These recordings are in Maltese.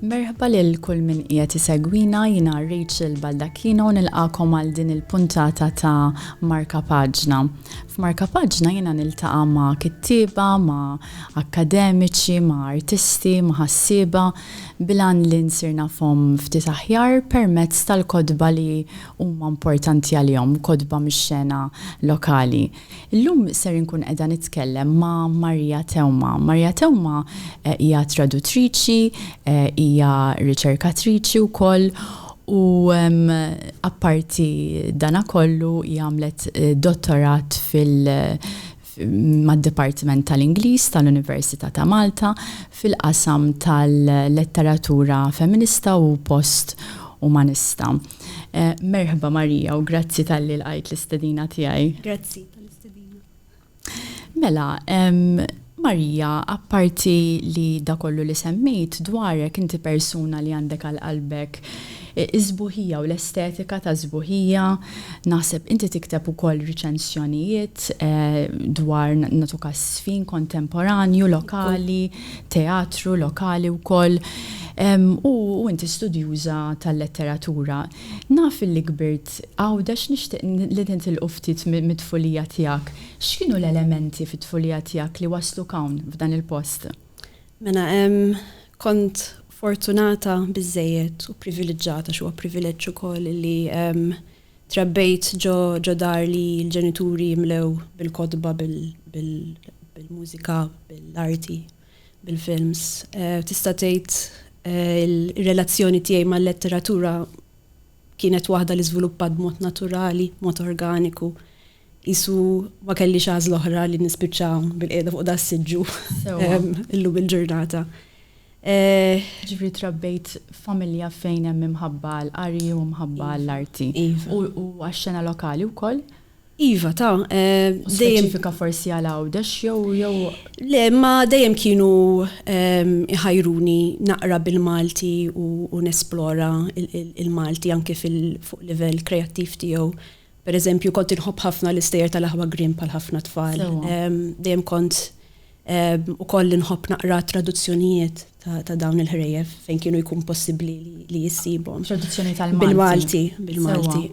Merħba lil kull min qiegħed isegwina jiena Rachel Baldacchino nilqakom għal din il-puntata ta' Marka Paġna. F'Marka Paġna jiena niltaqa' ma' kittieba, ma' akkademiċi, ma' artisti, ma' ħassieba bilan li nsirna fom ftit aħjar permezz tal-kodba li huma importanti għalihom, kotba mix-xena lokali. Illum ser inkun qiegħda nitkellem ma' Maria Theuma. Maria Theuma hija tradutriċi, hija riċerkatriċi wkoll u apparti dana kollu hija għamlet dottorat fil- mad-Dipartiment tal-Ingliż tal-Università ta' Malta fil-qasam tal-Letteratura Feminista u Post Umanista. Merħba Marija u grazzi talli lqajt l-istedina tiegħi. Grazzi tal-istedina. Mela, Marija, apparti li dak kollu li semmejt dwarek, inti persuna li għandek għal qalbek Is-sbuħija u l-estetika tas-sbuħija, naħseb inti tikteb ukoll riċensjonijiet dwar nagħtuk għaż-żfin kontemporanju lokali, teatru lokali wkoll, u inti studjuża tal-letteratura. Naf illi kbirt Għawdex nixtieq li nitilqu ftit mit-tfulija tiegħek. X'kienu l-elementi fit-tfulija tiegħek li wassluk hawn f'dan il-post? Mela hemm kont fortunata biżżejjed u privileġġata għax huwa privileġġ ukoll li trabbejt ġo ġo dar li l-ġenituri mlew bil-kotba, bil-mużika, bil-arti, bil-films. Tista' tgħid ir-relazzjoni tiegħi mal-letteratura kienet waħda li żviluppat b'mod naturali, b'mod organiku. Qisu ma kellix għażla oħra li nispiċċa bil-qiegħda fuq da s-siġġu illum il-ġurnata. Ġifieri trabbejt f'familja fejn hemm imħabba għall-qari u mħabba għall-arti. Iva. U għax-xena lokali wkoll? Iva, ta. Speċifika forsi għal Għawdex jew jew. Le, imma dejjem kienu iħajruni naqra bil-Malti u nesplora il-Malti anke fuq livell kreattiv tiegħu. Per eżempju, kont inħobb ħafna l-istejjer tal-aħwa Grimm bħal ħafna tfal. Dejjem kont ukoll inħobb naqra traduzzjonijiet ta' dawn il-ħrejjef fejn kienu jkun possibbli li jissibhom. Traduzzjoni tal-Malti. Bil-Malti, bil-Malti.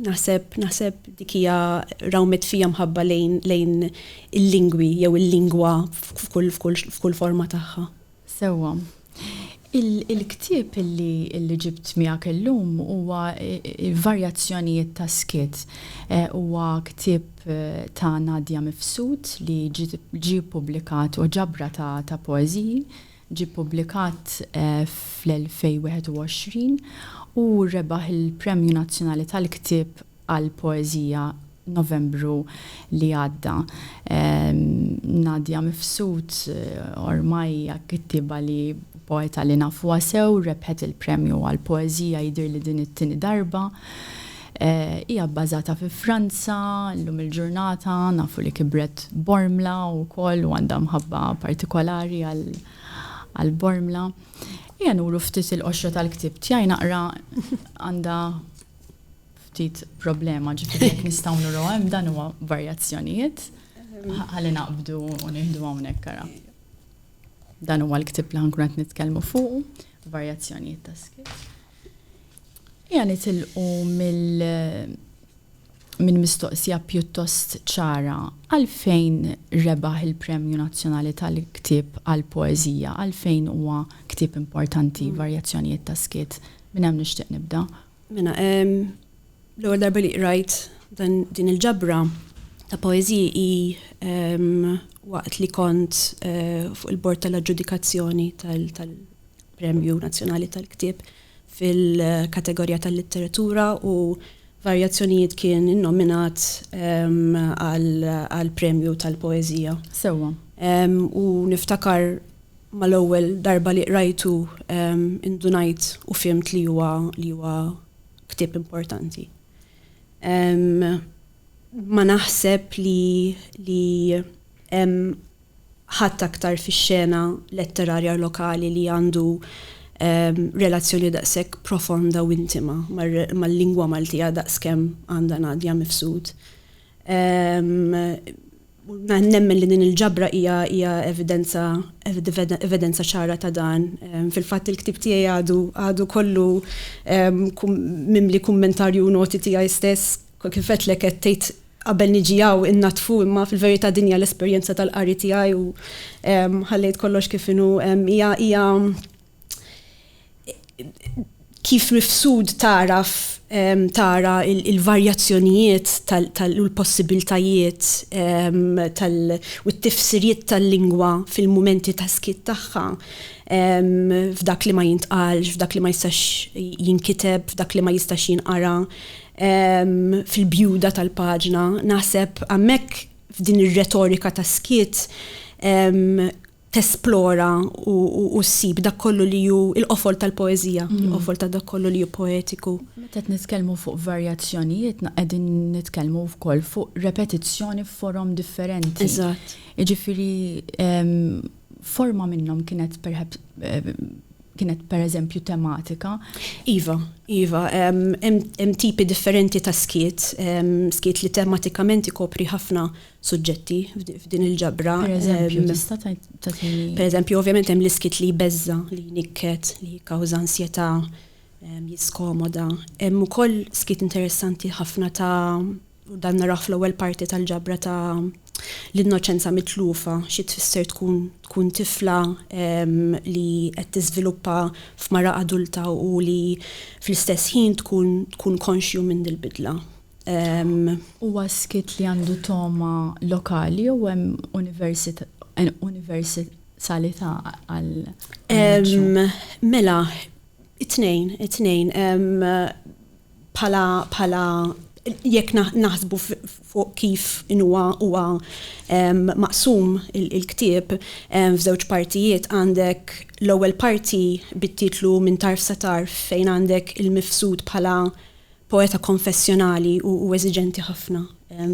Naħseb, naħseb dik hija rawmet fija mħabba lejn il-lingwi jew il-lingwa f'kull forma tagħha. Sewwa. Il-ktieb li ġibt miegħek illum huwa Varjazzjonijiet tas-Skiet. Huwa ktieb ta' Nadia Mifsud li ġie ppubblikat, huwa ġabra ta' poeżiji, ġie ppubblikat fl-2021 u rebaħ il-Premju Nazzjonali tal-Ktieb għall-poeżija Novembru li għadda. Nadia Mifsud ormai hija kittieba li, poeta li nafuha sew, rebħet il-premju għall-poeżija jidhirli din it-tieni darba. Hija bbażata fi Franza, llum il-ġurnata nafu li kibret Bormla wkoll u għandha mħabba partikolari għal Bormla. Ejja nuru ftit il-qoxra tal-ktieb tiegħi naqra għandha ftit problema, ġifieri jekk nistgħu nuru hemm dan huwa varjazzjonijiet ħalli naqbdu u nieħdu hawnhekk ara. Dan huwa l-ktib li ħankun qed nitkellmu fuq, varjazzjonijiet ta' skit. Ija nitilqu mill minn mistoqsija pjuttost ċara għalfejn rebaħ il-Premju Nazzjonali tal-Ktib għal Poeżija, għalfejn huwa ktib importanti varjazzjonijiet ta' skit minn hemm nixtieq nibda Mena, l-ewwel darba li qrajt dan din il-ġabra ta' poeziji i waqt li kont eh, fuq il-bord tal-aġġudikazzjoni tal-Premju Nazzjonali tal-Ktieb fil-kategorija tal-litteratura u varjazzjonijiet kien innominat għal-premju tal-poezija. Sewa. U niftakar mal-ewwel darba li qrajtu indunajt u fhimt li huwa li huwa ktieb importanti. Ma naħseb li li hemm ħadd aktar fix-xena letterarja lokali li għandu relazzjoni daqshekk profonda u intima mal-lingwa Maltija daqskemm għandha Nadia Mifsud. Nemmen li din il-ġabra hija evidenza ċara ta' dan. Fil-fatt il-ktieb tiegħi għadu kollu mimli kummentarju u noti tiegħi stess. Kif għedtlek qed tgħid qabel niġi hawn innaddfu imma fil-verità din hija l-esperjenza tal-qari tiegħi u ħallejt kollox kif inhu. Hija kif mifsud tagħraf tara il-varjazzjonijiet u l-possibiltajiet u t-tifsiriet tal-lingwa fil-mumenti ta' skiet tagħha, f'dak li ma jintqalx, f'dak li ma jistax jinkiteb, f'dak li ma jistax jinqara, fil-bjuda tal-paġna. Naħseb hemmhekk f'din ir-retorika ta' skiet tesplora u ssib dak kollu li hu l-qofol tal-poeżija, mm. l-qofol ta' dak kollu li hu poetiku. Meta qed nitkellmu fuq varjazzjonijiet, qegħdin nitkellmu wkoll fuq repetizzjoni f'forom differenti. Eżatt. Jiġifieri forma minnhom kienet perhaps kienet per eżempju tematika. Iva, iva, hemm tipi differenti ta' skiet, skiet li tematikament ikopri ħafna suġġetti f'din il-ġabra. Per eżempju, ehm, tista' tagħtini. Per eżempju, ovvjament hemm l-iskit li jbeżża, li nikket, li jikkawża ansjetà, ehm, jiskomoda. Hemm ukoll skit interessanti ħafna ta' dan naraw fl-ewwel parti tal-ġabra ta' l-innoċenza mitlufa xi tfisser tkun tkun tifla ehm, li qed tiżviluppa f'mara adulta u li fl-istess ħin tkun tkun konxju minn dil-bidla. Huwa skit li għandu togħma lokali jew hemm universalità għal Emm, mela, it-tnejn, it-tnejn. Bħala, bħala, jekk naħsbu fuq kif inhuwa huwa maqsum il-ktieb f'żewġ partijiet għandek l-ewwel parti bit-titlu Minn Tarf sa Tarf fejn għandek il-mifsud bħala Poeta konfessjonali u eżiġenti ħafna,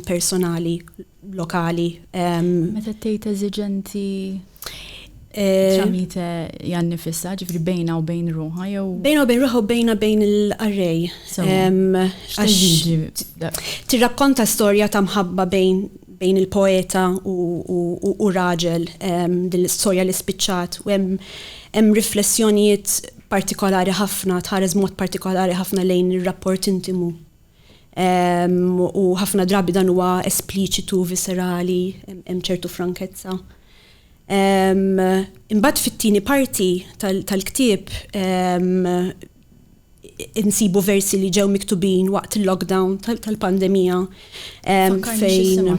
personali, lokali. Meta tgħid eżiġenti eh, tramite jan nifissa, ġifri bejna u bejn ruħa jew. Bejna u bejn ruħa u bejna bejn l-arrej. Tirrakkonta storja ta' mħabba bejn bejn il-poeta u raġel din l-istorja li spiċċat u hemm riflessjonijiet partikolari ħafna, tħares b'mod partikolari ħafna lejn ir-rapport intimu. U ħafna drabi dan huwa espliċitu, viscerali, hemm ċertu frankezza. Imbagħad fit-tieni parti tal-ktieb insibu versi li ġew miktubin waqt il-lockdown tal-pandemija. fejn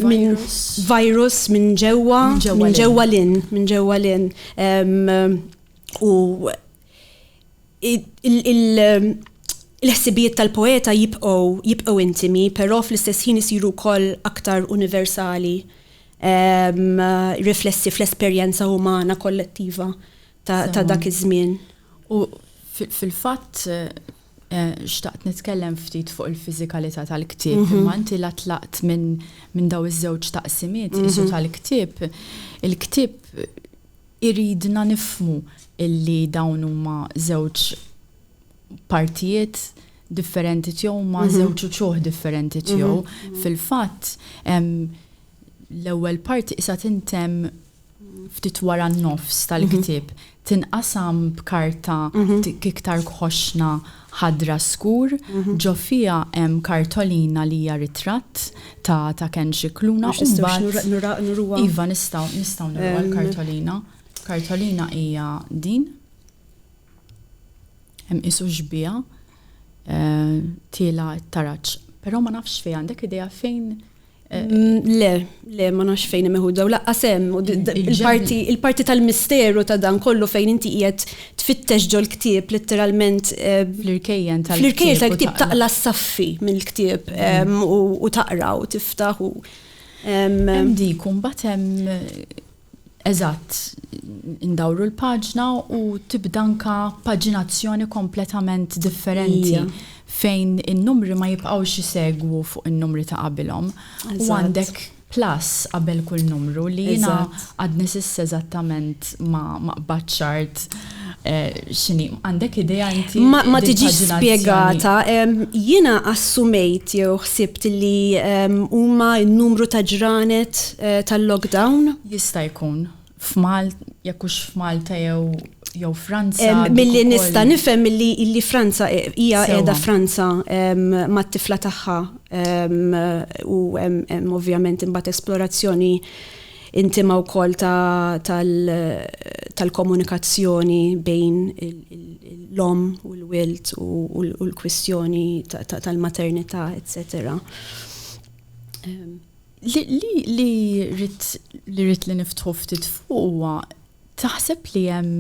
minn virus minn ġewwa minn ġewwa lin minn ġewwa lin u il-ħsibijiet tal-poeta jibqgħu jibqgħu intimi, però fl-istess ħin isiru wkoll aktar universali riflessi fl-esperjenza umana kollettiva ta' dak iż-żmien. U fil-fatt Eh, xtaqt nitkellem ftit fuq il-fiżikalità tal-ktieb, mhm. imma inti la tlaqt minn min daw iż-żewġ taqsimiet mhm. isu tal-ktieb, il-ktieb iridna nifmu illi dawn huma żewġ partijiet differenti tiegħu ma mhm. żewġ uċuħ differenti tiegħu. Fil-fatt l-ewwel parti isa tintem ftit wara n-nofs tal-ktieb, tinqasam b'karta ftit iktar kħoxna ħadra skur, ġo fiha hemm kartolina li hija ritratt ta' ta' Ken Scicluna u mbagħad Iva, nistgħu, nistgħu nuruha l-kartolina. Kartolina hija din. Hemm qisu xbieha tiela' t-taraġ. Però ma nafx fejn, għandek idea fejn Le, le, ma nafx fejn hemm iħudda u laqqas hemm il-parti il-parti tal-misteru ta' dan kollu fejn inti qiegħed tfittex ġol ktieb letteralment eh, fl-irkejjen tal fl-irkejjen tal-ktieb taqla s-saffi mill-ktieb mm. u taqra u tiftaħ u Hemm dik u mbagħad hemm Eżatt, indawru l-paġna u tibda anke paġinazzjoni kompletament differenti fejn in-numri ma jibqgħux isegwu fuq in-numri ta' qabilhom u għandek plus qabel kull numru li jiena għadni s'issa eżattament ma qbadtx art. X'inhi, għandek idea inti? Ma tiġix spjegata. Jiena assumejt jew ħsibt li huma n-numru ta' ġranet tal-lockdown. Jista' jkun. F'Malta, jekk hux f'Malta jew jew Franza. Milli nista' nifhem li Franza hija qiegħda Franza mat-tifla tagħha u hemm ovvjament imbagħad esplorazzjoni Intima wkoll tal-komunikazzjoni bejn l-omm u l-wild u l-kwistjoni tal-maternità, eċċetera. Li rrid li rrid li niftħu ftit fuq huwa taħseb li hemm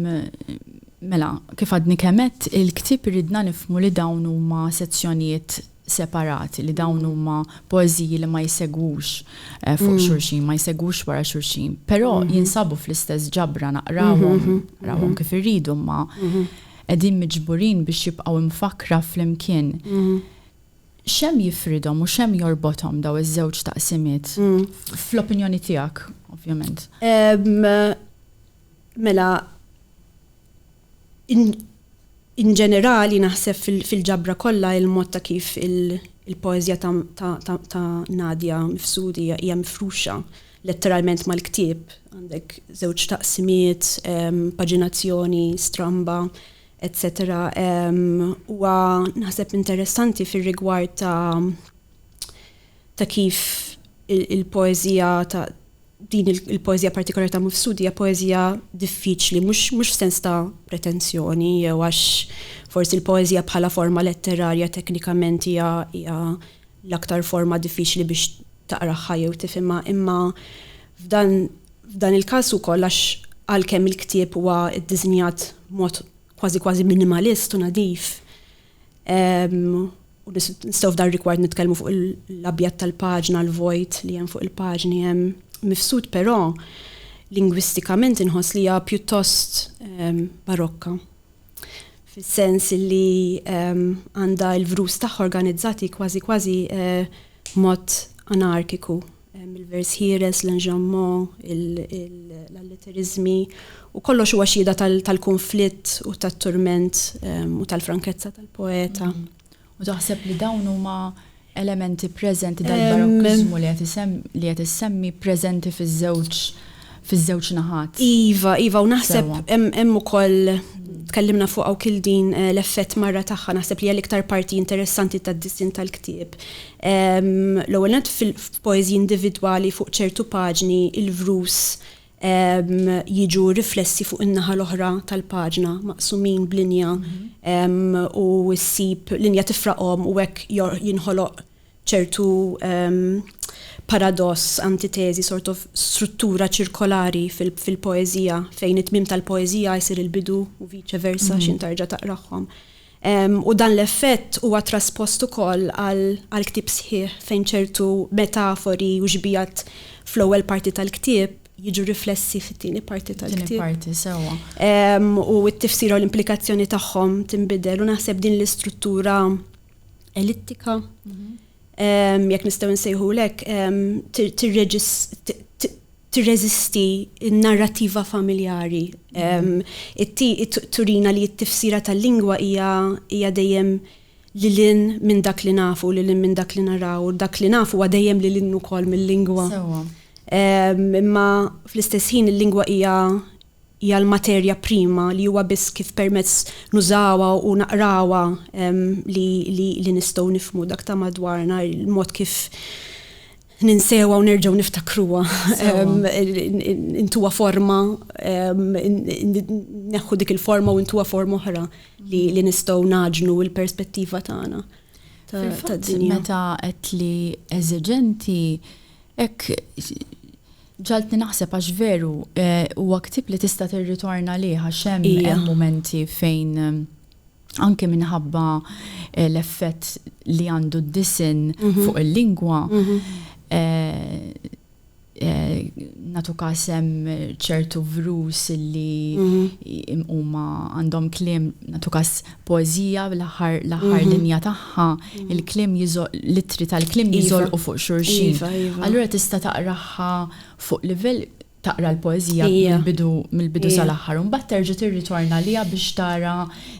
mela kif għadni kemm għedt il-ktieb iridna nifhmu li dawn huma sezzjonijiet separati, li dawn huma poeżiji li ma jsegwux fuq xulxin, ma jsegwux wara xulxin, però jinsabu fl-istess ġabra naqrawhom, naqrawhom kif irridu imma qegħdin miġburin biex jibqgħu mfakkra flimkien. X'hemm jifridhom u x'hemm jorbothom dawn iż-żewġ taqsimiet fl-opinjoni tiegħek, ovvjament? Mela, In ġenerali, naħseb fil-ġabra kollha il-mod ta' kif il-poeżija ta' Nadia Mifsudi hija mifruxa letteralment mal-ktieb, għandek żewġ taqsimiet, paġinazzjoni stramba, etc. Huwa naħseb interessanti fir-rigward ta' kif il-poeżija Din il-poeżija partikolari ta' Mifsud hija poeżija diffiċli, mhux mhux f'sens ta' pretensjoni jew għax forsi l-poeżija bħala forma letterarja teknikament hija hija l-aktar forma diffiċli biex taqragħha jew tifhimha, imma f'dan f'dan il-każ ukoll għax għalkemm il-ktieb huwa ddisinjat b'mod kważi kważi minimalist u nadif, U nistgħu f'dar rigward nitkellmu fuq l-abjad tal-paġna, l-vojt li hemm fuq il-paġni hemm mifsud, però lingwistikament inħoss li hija pjuttost ehm, barokka. Fis-sens li ehm, għandha l-vrus tagħha organizzati kważi kważi eh, mod anarkiku il-vers ħieles, l-enġammo, l-allitteriżmi, u kollox huwa xhieda tal-kunflitt u tat-turment ehm, u tal-frankezza tal-poeta. Mm. U taħseb li dawn huma elementi preżenti dal-barokkizmu ehm, li qed issemmi preżenti fiż-żewġ fiż-żewġ naħat. Iva, iva, u naħseb hemm ukoll tkellimna fuq hawn din eh, l-effett marra tagħha naħseb li hija l-iktar parti interessanti tad-dissin tal-ktieb. L-ewwel nett f'poeżji individwali fuq ċertu paġni il-vrus jiġu riflessi fuq in-naħa l-oħra tal-paġna, maqsumin b'linja u ssib linja tifraqhom u hekk jinħoloq ċertu paradoss, antiteżi, sort of struttura ċirkolari fil-poeżija fejn it-tmiem tal-poeżija jsir il-bidu u viċe versa x'intarġa' taqrahom. u dan l-effett huwa traspost ukoll għall-ktieb sħiħ fejn ċertu metafori u xbigħat fl-ewwel parti tal-ktieb jiġu riflessi fit-tieni parti tal-ktieb. Tieni parti, sewwa. U t-tifsira u l-implikazzjoni tagħhom tinbidel u naħseb din l-istruttura elittika. Mm-hmm jekk nistgħu nsejħulu hekk, tirreżisti n-narrattiva familjari. Turina li t-tifsira tal-lingwa hija dejjem lil hinn minn dak li nafu, lil hinn minn dak li naraw, u dak li nafu huwa dejjem lil hinn ukoll mill-lingwa. Imma fl-istess ħin il-lingwa hija hija l-materja prima li huwa biss kif permezz nużawha u naqrawha li li li nistgħu nifhmu dak ta' madwarna, il-mod kif ninsewha u nerġgħu niftakruha, intuha forma, neħħu dik il-forma u intuha forma oħra li li nistgħu naġnu l-perspettiva tagħna. Fil-fatt meta qed li eżiġenti hekk Ġagħaltni naħseb għax veru huwa ktieb li tista' tirritorna għalih għax hemm mumenti fejn anke minħabba l-effett li għandu d-disinn mhm. fuq il-lingwa mhm. eh, Eh, natu kasem ċertu vrus li mhm. huma għandhom klim natu kas Poeżija, l-aħħar l-aħħar linja tagħha, il-kliem jiżo, l-ittri tal-kliem jiżolqu fuq xulxin. Allura tista' taqragħha fuq livell, taqra l-poeżija mill-bidu mill-bidu sal-aħħar u mbagħad terġa' tirritorna għaliha biex tara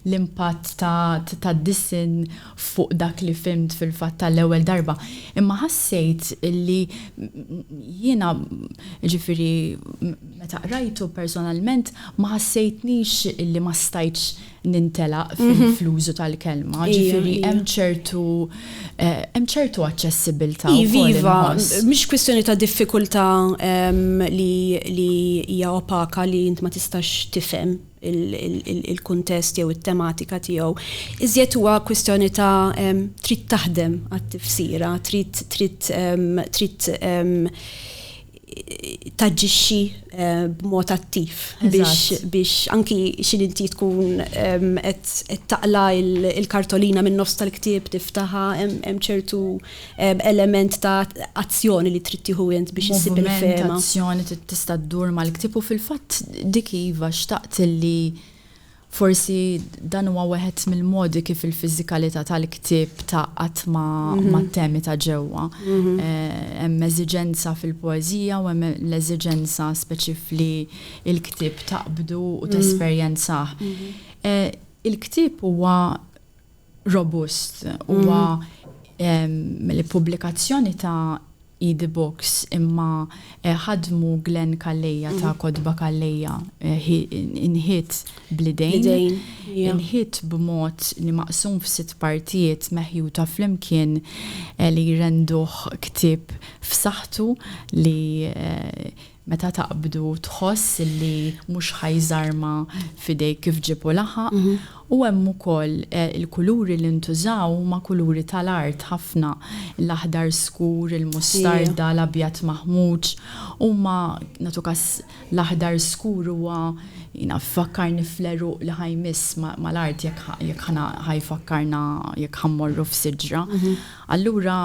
l-impatt ta' tad-disinn fuq dak li fhimt fil-fatt tal-ewwel darba. Imma ħassejt li jiena, jiġifieri meta qrajtu personalment ma ħassejtnix illi ma stajtx nintelaq fil-flużu tal-kelma, ġifiri hemm ċertu eh, hemm ċertu aċċessibilità. Iva, mhix kwistjoni ta' diffikultà li hija opaka li int ma tistax tifhem il-kuntest jew it-tematika tiegħu. Iżjed huwa kwistjoni ta' trid taħdem għat-tifsira, trid trid trid taġġixxi eh, b'mod attiv biex anki xil inti tkun qed taqla il-kartolina minn nofs tal-ktieb tiftaħa hemm ċertu element ta' azzjoni li trid tieħu int biex issib il-fehma. Azzjoni tista' ddur mal-ktieb u fil-fatt dik iva xtaqt li Forsi dan huwa weħed mill-modi kif il-fiżikalità tal-ktieb tgħaqqad mat-temi ta' ġewwa. Hemm eżiġenza fil-poeżija u hemm l-eżiġenza speċif li l-ktieb taqbdu u tesperjenzah. Il-ktieb huwa robust huwa mill-ippubblikazzjoni ta' Idi Books imma ħadmu Glenn Calleja ta' Kotba Calleja inħitt bl-idejn, inħitt b'mod li maqsum f'sitt partijiet meħjuta flimkien li jrenduh ktieb f'saħħtu li Meta taqbdu tħoss li mhux ħa jżarma f'idejk kif ġieb u laħaq. U hemm ukoll il-kuluri li ntużaw huma kuluri tal-art ħafna. L-aħdar skur, il-mustarda, l-abjad maħmuġ. Huma, nagħtu każ, l-aħdar skur huwa naf ifakkarni fl-għeruq li ħa jmiss mal-art jekk ħa jekk ħa na ħa jfakkarna jekk ħa mmorru f'siġra. Allura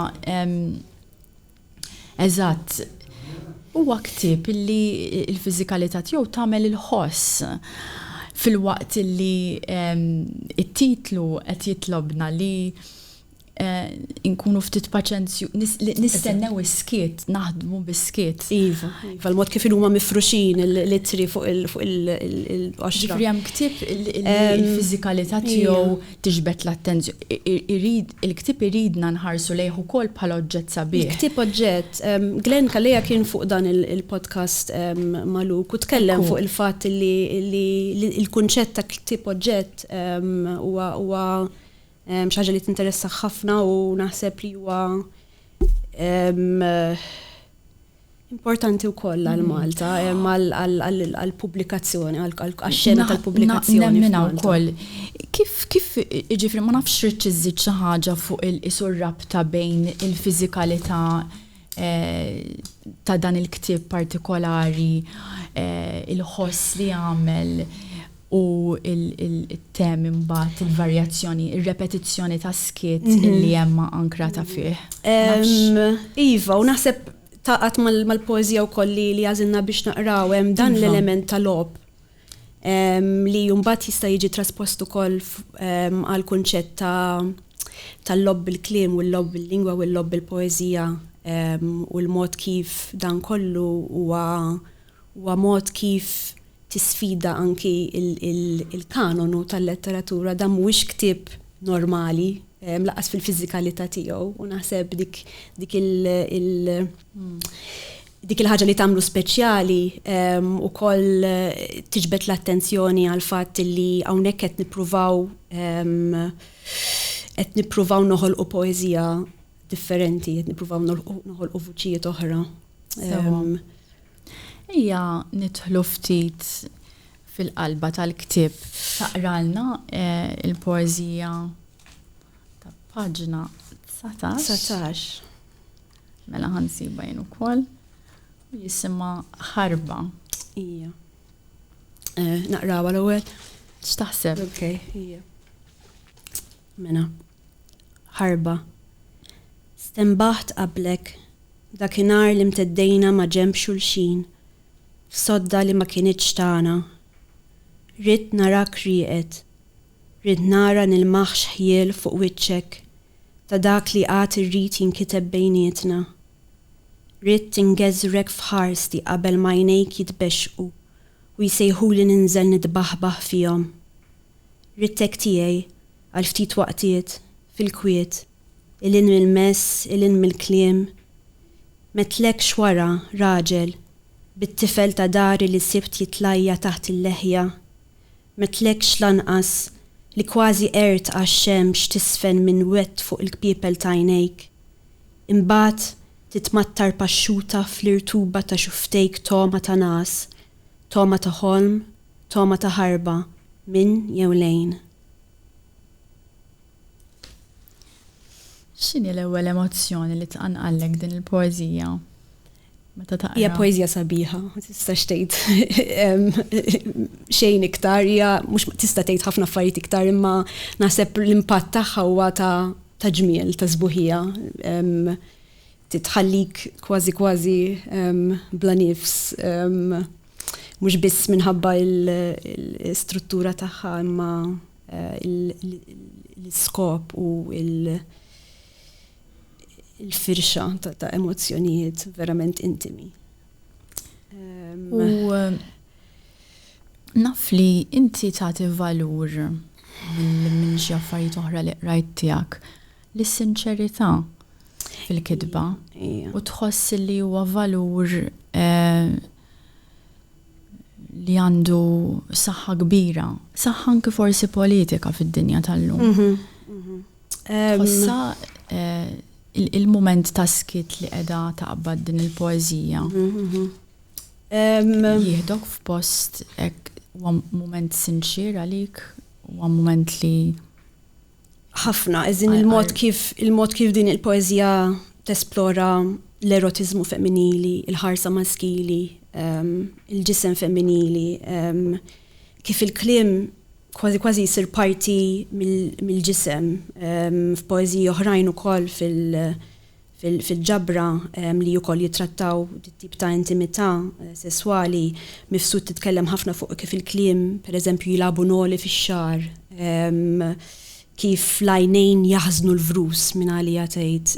Eżatt. Huwa ktieb li l-fiżikalità tiegħu tagħmel il-ħoss filwaqt li t-titlu qed jitlobna li nkunu ftit paċenzjużi, nistennew is-skiet, naħdmu bis-skiet. Iva, iva, l-mod kif huma mifruxin l-ittri fuq il-qoxra. Ġifieri hemm ktieb li l-fiżikalità tiegħu. tiġbed l-attenzjoni. Il-ktieb iridna nħarsu lejh ukoll bħala oġġett sabiħ. Il-ktieb oġġett. Glenn Calleja kien fuq dan il-podcast ma' Luke u tkellem fuq il-fatt li l-kunċett ta' ktieb oġġett huwa xi ħaġa li tinteressah ħafna u naħseb li huwa Importanti wkoll għal Malta, għall-pubblikazzjoni, għax-xena tal-pubblikazzjoni. Naf, nemminha wkoll. Kif, kif, jiġifieri ma nafx ridt iżżid xi ħaġa fuq il-qies u r-rabta bejn il-fiżikalità ta' dan il-ktieb partikolari, il-ħoss li jagħmel, u il-temi imbagħad, il-varjazzjoni, ir-repetizzjoni tas-skiet li hemm ankrata fih. Iva, u naħseb taqgħat mal-poeżija wkoll li għażilna biex naqraw hemm dan iva. l-element tal-logħob li mbagħad jista' jiġi traspost ukoll għal kunċett ta' tal-logħob bil-kliem u l-logħob bil-lingwa u l-logħob bil-poeżija u l-mod kif dan kollu huwa Huwa mod kif tisfida anki l-kanonu tal-letteratura. Dan mhuwiex ktieb normali, lanqas fil-fiżikalità tiegħu, u naħseb dik dik il il dik il-ħaġa li tagħmlu speċjali ukoll tiġbed l-attenzjoni għall-fatt li hawnhekk qed nippruvaw qed nippruvaw noħolqu poeżija differenti, qed nippruvaw noħolqu vuċijiet oħra. Ejja nidħlu ftit fil-qalba tal-ktieb taqralna eh, il-poeżija ta' paġna 19. Mela ħansiba jien ukoll. Jisimha ħarba. Ija. Eh, naqrawa l-ewwel. X'taħseb? Okay, ija. Mena. ħarba. Stenbaħt qablek, dakinhar li mteddejna maġenb xulxin f'sodda li ma kinitx tagħna. Ridt narak rieqed. Ridt nara nilmaħx ħjiel fuq wiċċek ta' dak li għad irrid jinkiteb bejnietna. Ridt ingeżrek f'ħarsti qabel m'għajnejk jitbexxqu u jsejħuli ninżel nitbaħbaħ fihom. Ridtek tiegħi Għal ftit waqtiet, fil-kwiet, 'il hinn mill-mess, 'il hinn mill-kliem, m'għedtlekx wara, raġel, bit-tifel ta' dari li sibt jitlajja' taħt il-leħja, m'għedtlekx lanqas li kważi qegħrt għax-xemx tiżfen minn wett fuq il-kpiepel t'għajnejk, imbagħad titmattar paxxuta fl-irtuba ta' xufftejk togħma ta' ngħas, togħma ta' ħolm, togħma ta' ħarba, minn jew lejn. X'inhi l-ewwel emozzjoni li tqanqallek din il-poeżija meta taqra? Hija poeżija sabiħa, ma tistax tgħid xejn iktar, hija mhux tista' tgħid ħafna affarijiet iktar imma naħseb l-impatt tagħha huwa ta' ġmiel, ta' sbuħija. tħallik kważi kważi bla nifs mhux biss minħabba l-istruttura tagħha imma l-iskop u l-firxa ta' emozzjonijiet verament intimi. U naf li inti tagħti valur minn xi affarijiet oħra li qrajt tiegħek L-sinċerità fil-kitba u tħoss li huwa valur li għandu saħħa kbira, saħħa anki forsi politika fid-dinja tal-lum. Mhm, mhm. Tħossa eh, il-moment ta' skit li qiegħda taqbad din il-poeżija. Mhm, Jihdok f'post hekk moment sinċir għalik, huwa moment li ħafna, eżin il-mod kif il-mod kif din il-poezija tesplora l-erotiżmu femminili, il-ħarsa maskili, ehm, il-ġisem femminili, ehm, kif il-klim kważi kważi jisir parti mill-ġisem ehm, f'poeziji oħrajn ukoll fil- fil-ġabra li wkoll jittrattaw dit-tip ta' intimità sesswali, Mifsud titkellem ħafna fuq kif il-kliem, pereżempju, jilagħbu noli fix-xagħar, kif l-għajnejn jaħżnu l-vrus, minn għaliha tgħid,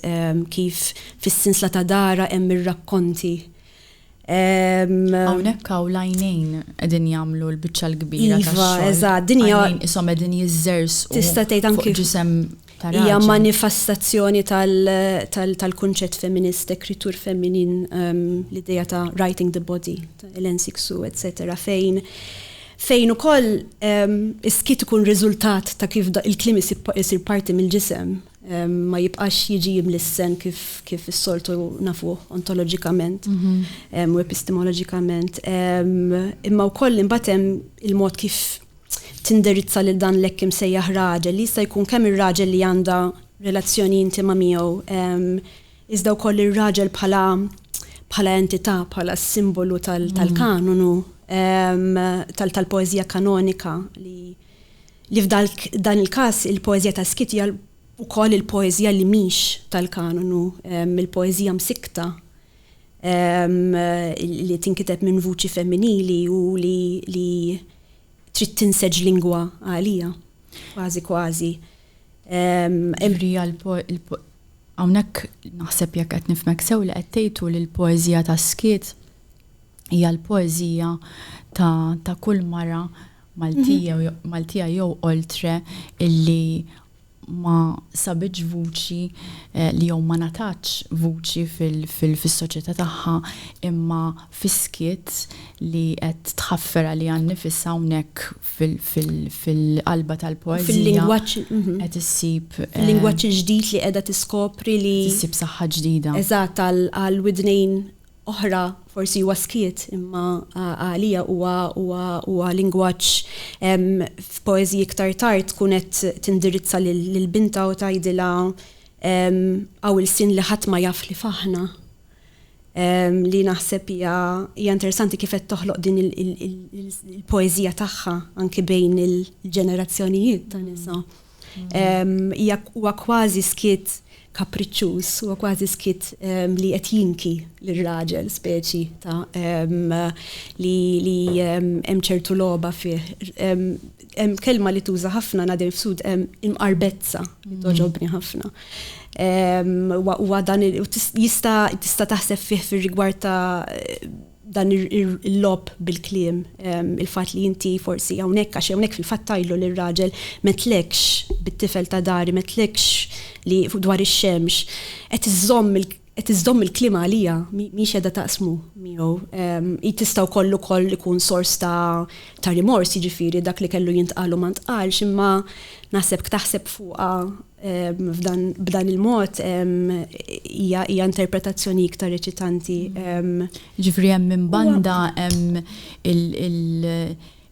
kif fis-sinsla ta' darha hemm ir-rakkonti Hawnhekk hawn l-għajnejn qegħdin jagħmlu l-biċċa l-kbira iva, tax-xogħol. Iva, eżatt, din hija għajnejn ishom qegħdin jiżżersqu. Tista' tgħid anki ġisem hija manifestazzjoni tal-kunċett feminist, ekritur feminin, ehm, l-idea ta' writing the body, l-ensiksu, etc. fejn fejn ukoll ehm, is-skit ikun riżultat ta' kif il-klim isir parti mill-ġisem. ma jibqax jiġi jimlissen kif, kif is-soltu nafuh ontoloġikament u epistemoloġikament. Imma wkoll imbagħad hemm il-mod kif tindirizza lil dan l-hekk imsejjaħ raġel li jista' jkun kemm ir-raġel li għandha relazzjoni intima miegħu iżda wkoll ir-raġel bħala bħala entità, bħala simbolu tal-kanonu tal-poeżija kanonika li li f'dan il-każ il-poeżija ta' Skit hija wkoll il-poeżija li mhix tal-kanonu, il-poeżija msikkta li tinkiteb minn vuċi femminili u li trid tinseġ lingwa għalija, kważi kważi. Ġifieri hawnhekk naħseb jekk qed nifhmek sew li qed tgħid hu li l-poeżija ta' Skit hija l-poeżija ta' kull mara Maltija, mhm. Maltija jew oltre illi ma sabiġ vuċi eh, li jew ma nataċ vuċi fil-soċjetà tagħha imma fiskiet li qed tħaffera li għan nifisha hawnhekk fil-qalba tal-poeżija. Fil-lingwaġġ mhm. qed issib eh, lingwaġġ ġdid li qiegħda tiskopri li issib saħħa ġdida. Eżatt għal widnejn oħra forsi huwa skiet imma għalija huwa huwa huwa lingwaġġ f'poeżiji iktar tard tkun qed tindirizza lil binta u tgħidilha hawn il-sin li ħadd ma jaf li f'aħna li naħseb hija hija interessanti kif qed toħloq din il-poeżija tagħha anke bejn il-ġenerazzjonijiet ta' nisa. Hija huwa kważi skiet kapriċċuż, huwa kważi skiet li qed jinki lir-raġel speċi ta' li li hemm ċertu logħba fih. Hemm kelma li tuża ħafna Nadir Fsud hemm imqarbezza li toġobni ħafna. Huwa dan jista' tista' taħseb fih fir-rigward ta' dan il-logħob bil-kliem, il-fatt li inti forsi hawnhekk għax hawnhekk fil-fatt tgħidlu lir-raġel m'għedtlekx bit-tifel ta' dari, m'għedtlekx li dwar ix-xemx, qed iżżomm qed iżżomm il-kliem għalija, mhix qiegħda taqsmu miegħu. Hi tista' wkoll ukoll ikun sors ta' rimors, jiġifieri dak li kellu jintqal u ma ntqalx, imma naħseb ktaħseb fuqha B'dan il-mod hija interpretazzjoni iktar eċitanti. Jiġifieri hemm minn banda hemm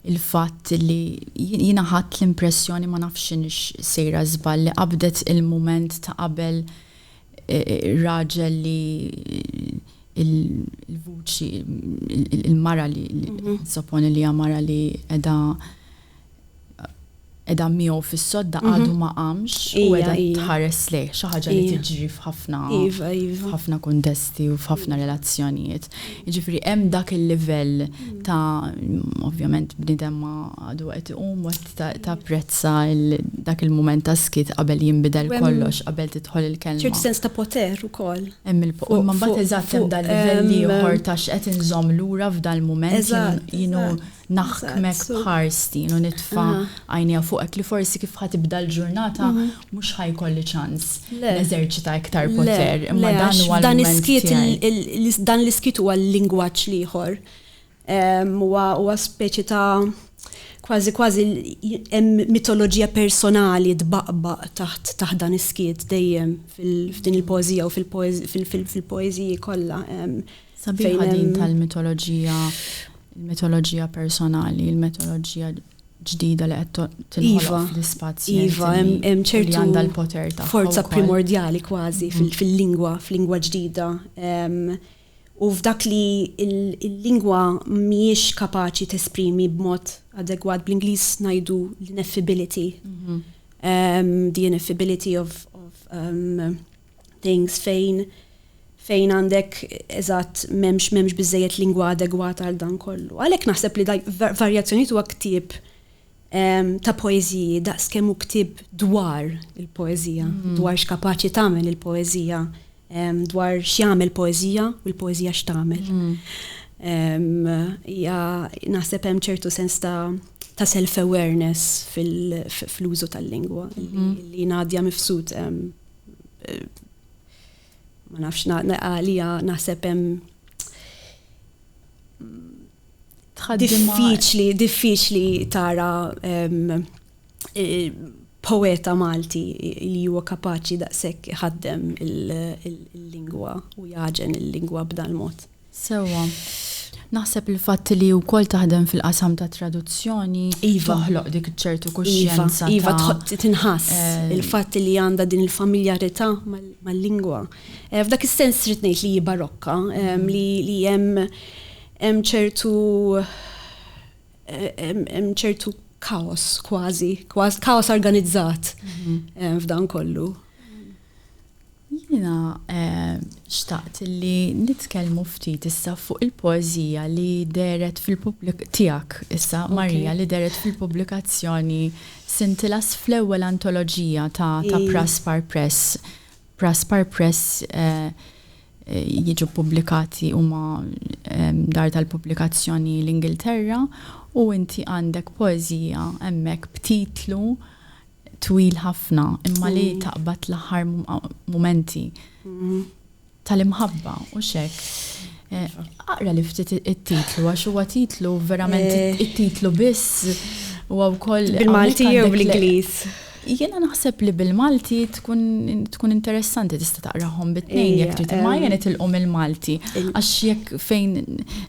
il-fatt li jiena ħadt l-impressjoni ma nafx x'inhiex sejra żball li qabdet il-mument ta' qabel ir-raġel li l-vuċi il-mara li nissoponi li hija mara li qiegħda qiegħda miegħu fis-sodda għadu ma qamx u qiegħda tħares lejh, xi ħaġa li tiġri f'ħafna f'ħafna kuntesti u f'ħafna relazzjonijiet. Jiġifieri hemm dak il-livell ta' ovvjament bniedem ma għadu qed iqum u qed tapprezza dak il-mument ta' skiet qabel jinbidel kollox, qabel tidħol il-kelma. Ċertu sens ta' poter ukoll. Hemm il-poter. Imma mbagħad eżatt hemm dal-livell ieħor ta' x'qed inżomm lura f'dal-mument jien hu naħkmek b'ħarsti u nitfa' għajnejja fuqek li forsi kif ħa tibda l-ġurnata mhux ħa jkolli ċans neżerċita iktar poter. Imma dan huwa l-mument tiegħi. Dan l-iskit huwa l-lingwaġġ l-ieħor. Huwa speċi ta' kważi kważi hemm mitoloġija personali tbaqbaq taħt taħt dan is-skiet dejjem f'din il-poeżija u fil-poeżiji kollha. Sabiħa din tal-mitoloġija il-mitoloġija personali, il-mitoloġija ġdida li qed tinħoloq iva, fl-ispazju. Iva, hemm ċertu għandha l-poter ta' forza primordjali kważi mhm. fil-lingwa, fil-lingwa ġdida. U f'dak li l-lingwa mhijiex kapaċi tesprimi b'mod adegwat bl-Ingliż ngħidu l-ineffability. Mhm. The ineffability of, of um, things fejn fejn għandek eżatt m'hemmx m'hemmx biżejjed lingwa adegwata għal dan kollu. Għalhekk naħseb li varjazzjonijiet huwa ktieb ehm, ta' poeżiji daqskemm hu ktieb dwar il-poeżija, mm. dwar x'kapaċi tagħmel il-poeżija, ehm, dwar x'jagħmel poeżija u l-poeżija x'tagħmel. Mm. Ehm, ja naħseb hemm ċertu sens ta' ta' self-awareness fil-użu tal-lingwa mm. li Nadja Mifsud ma nafx għalija naħseb hemm diffiċli, diffiċli tara poeta Malti li huwa kapaċi daqshekk iħaddem il-lingwa u jaġen il-lingwa b'dan mod. Sewwa. Naħseb il-fatt li wkoll taħdem fil-qasam tat-traduzzjoni toħloq dik ċertu kuxjenza. Iva, tinħass il-fatt li għandha din il-familjarità mal-lingwa. F'dak is-sens trid ngħid li hi barokka, li hemm ċertu hemm ċertu kaos kważi, kaos organizzat f'dan kollu. Jiena xtaqt li nitkellmu ftit issa fuq il-poeżija li dehret fil tiegħek issa, Maria, li dehret fil-pubblikazzjoni Scintillas fl-ewwel antoloġija ta' ta' Praspar Press. Praspar Press jiġu ppubblikati huma dar tal-pubblikazzjoni l-Ingilterra u inti għandek poeżija hemmhekk b'titlu twil ħafna imma li taqbad l-aħħar mumenti tal-imħabba, hux hekk? Aqrali ftit it-titlu għax huwa titlu verament it-titlu biss huwa wkoll Bil-Malti jew bl-Ingliż? Jiena naħseb li bil-Malti tkun interessanti tista' taqrahom bit-tnejn jekk trid imma ejja nitilqu mill-Malti għax jekk fejn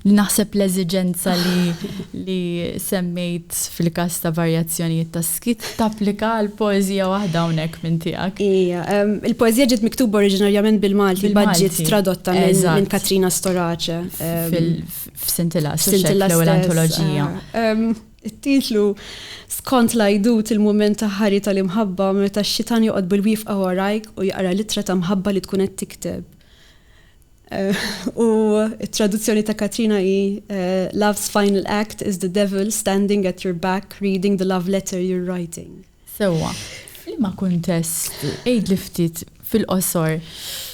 naħseb l-eżiġenza li semmejt fil-każ ta' varjazzjonijiet tas. Trid tapplika għal poeżija waħda hawnhekk minn tiegħek. Ija. Il-poeżija ġiet miktuba oriġinarjament bil-Malti, imbagħad ġiet tradotta minn Katrina Storace. F'Sintilla, l-ewwel antoloġija. It-titlu Skont l-għajdut il-mument ta' ħari tal-imħabba meta x-xitan joqgħod bil-wifqa warajk u jaqra l-ittra ta' mħabba li tkun qed tikteb. U t-traduzzjoni ta' Katrina hi Love's final act is the devil standing at your back reading the love letter you're writing. Sewwa. F'liema kuntest, għidli ftit fil-qosor,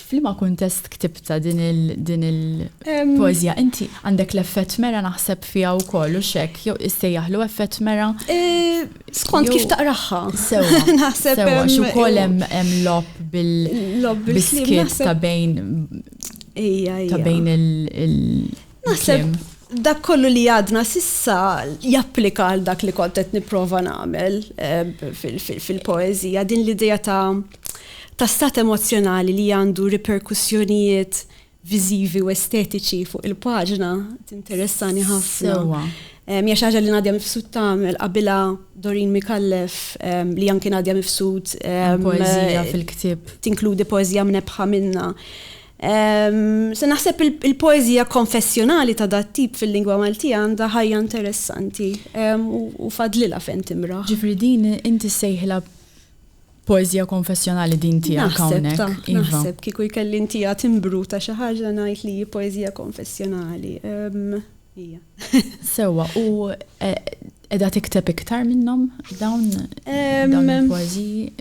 f'liema kuntest ktibtha din il-poeżija? Inti għandek l-effett mera naħseb fiha wkoll, hux hekk? Jew issejjaħlu effett mera? Skont kif taqraħħa. Sewa, naħseb. Sewa, xukoll hemm lob bil-biskit ta' bejn. Ija, ija. Ta' bejn il- Naħseb dak kollu li għadna sissa japplika għal dak li kontet niprofa nagħmel eh, fil-poezija din l-idea ta' ta' stat emozjonali li għandu riperkussjonijiet viżivi u estetiċi fuq il-paġna tinteressani ħafna. Sewwa. Hija xi ħaġa li Nadja Mifsud tagħmel qabilha Doreen Micallef li anki Nadja Mifsud Poeżija fil-ktieb. tinkludi poeżija mnebbħa minnha. Se naħseb il-poeżija konfessjonali ta' dat-tip fil-lingwa Maltija għandha ħajja interessanti u fadlilha fejn timraħ. Ġifieri din inti ssejħilha Poeżija konfessjonali din tiegħek hawnhekk. Naħseb ta', naħseb kieku jkelli ntiha timbru ta' xi ħaġa ngħid li hi poeżija konfessjonali. Hija. Sewwa, u qiegħda tikteb iktar minnhom dawn dawn il-poeżiji?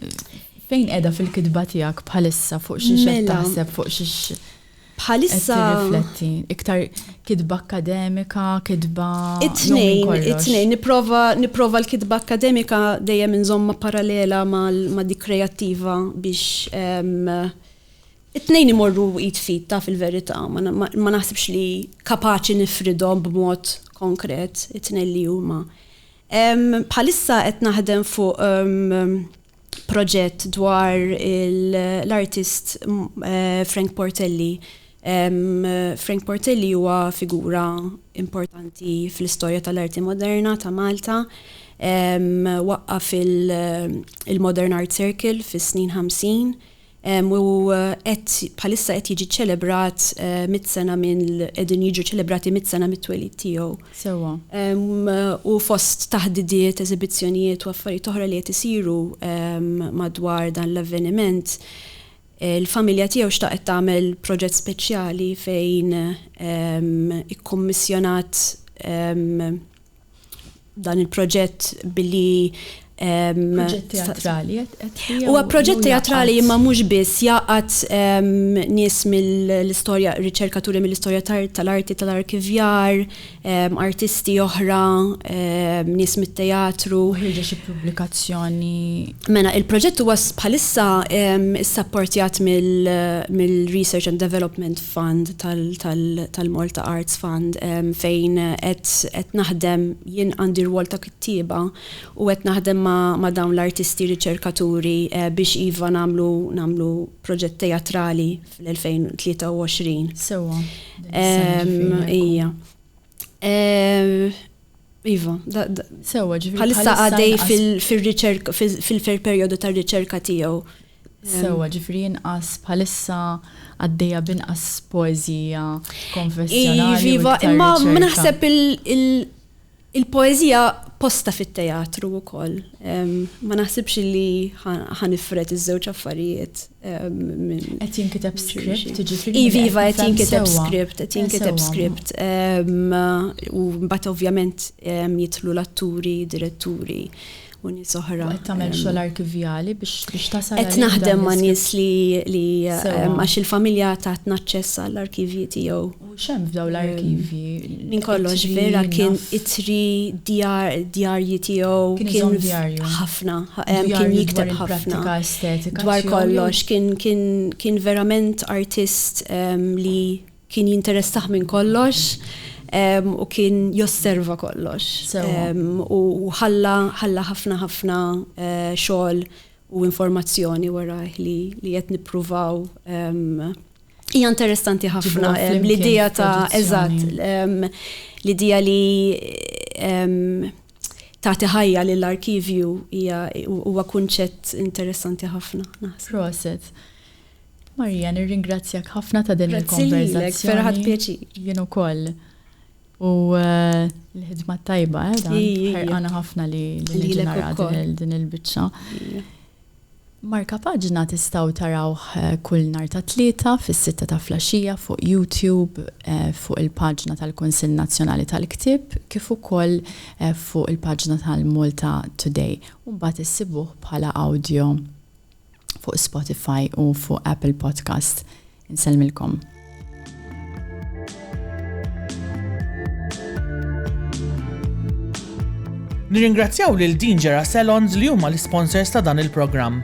Fejn qiegħda fil-kitba tiegħek bħalissa fuq xi qed taħseb fuq xi Bħalissa. Qed tirrifletti iktar kitba akkademika, kitba. It-tnejn, it-tnejn, nipprova nipprova l-kitba akkademika dejjem inżomma parallela ma' dik kreattiva biex ehm, it-tnejn imorru id fit ta' fil-verità, ma naħsibx li kapaċi nifridhom b'mod konkret it-tnejn li huma. Ehm, bħalissa qed naħdem fuq ehm, proġett dwar l-artist Frank Portelli. Frank Portelli huwa figura importanti fl-istorja tal-arti moderna ta' Malta. Waqqaf il-Modern Art Circle fis-snin 50. u qed bħalissa qed jiġi ċċelebrat mitt sena minn qegħdin jiġu ċelebrati mitt sena mit-twelid tiegħu. Sewwa. U fost taħdidiet, eżibizzjonijiet u affarijiet oħra li qed isiru madwar dan l-avveniment, il-familja tiegħu xtaqet tagħmel proġett speċjali fejn ikkummissjonat dan il-proġett billi Proġett teatrali, Huwa proġett teatrali imma mhux biss jaqgħad nies mill-istorja, riċerkaturi mill-istorja tal-arti tal-arkivjar, artisti oħra, nies mit-teatru. Ħriġa xi pubblikazzjoni. Mela, il-proġett huwa bħalissa issapportjat mill-Research and Development fund tal-Malta Arts Fund fejn qed naħdem, jien għandi rwol ta' kittieba u qed naħdem ma' dawn l-artisti riċerkaturi biex iva nagħmlu proġett teatrali fl-2023. Sewwa. Hija. Iva, sewa ġifiri. Bħalissa għadej fil-riċerka, fil-fer periodu ta' riċerka tiegħu. Sewa ġifiri inqas bħalissa għaddejja binqas poezija konfessjonali. Iva, imma naħseb il-poezija posta fit-teatru wkoll. Ma naħsibx li ħanifret iż-żewġ affarijiet. Qed jinkiteb script, jiġifieri. Iva, iva, qed jinkiteb script, qed jinkiteb script. U mbagħad ovvjament jidħlu l-atturi, diretturi u nies oħra. Qed tagħmel xogħol arkivjali biex tasal. Qed naħdem ma' nies li għax il-familja tatna aċċess għall-arkivji tiegħu. U x'hemm f'dawn l-arkivji? Minn kollox vera kien ittri, djarji tiegħu, kien ħafna, kien jikteb ħafna dwar kollox, kien verament artist li kien jinteressah minn kollox u kien josserva kollox. U ħalla ħafna ħafna xogħol u informazzjoni warajh li qed nippruvaw Hija interessanti ħafna l-idea ta' eżatt l-idea li tagħti ħajja lill arkivju hija huwa kunċett interessanti ħafna. Proset. Marija, nirringrazzjak ħafna ta' din il-konverzazzjoni. Ferħat pieċi. Jien ukoll. U eh, l-ħidma tajba, eh, dan ħerqana ħafna li l-ġenera din il-bicċa. Markapaġna tistgħu tarawh kull nhar ta' Tlieta fis-sitta ta' flaxxija fuq YouTube fuq il-paġna tal-Kunsill Nazzjonali tal-Ktieb kif ukoll fuq il-paġna tal-Malta Today u mbagħad issibuh bħala awdjo fuq Spotify u fuq Apple Podcast. Insellmilkom. Nirringrazzjaw lil Dingera Salons li huma l-sponsors ta' dan il-programm.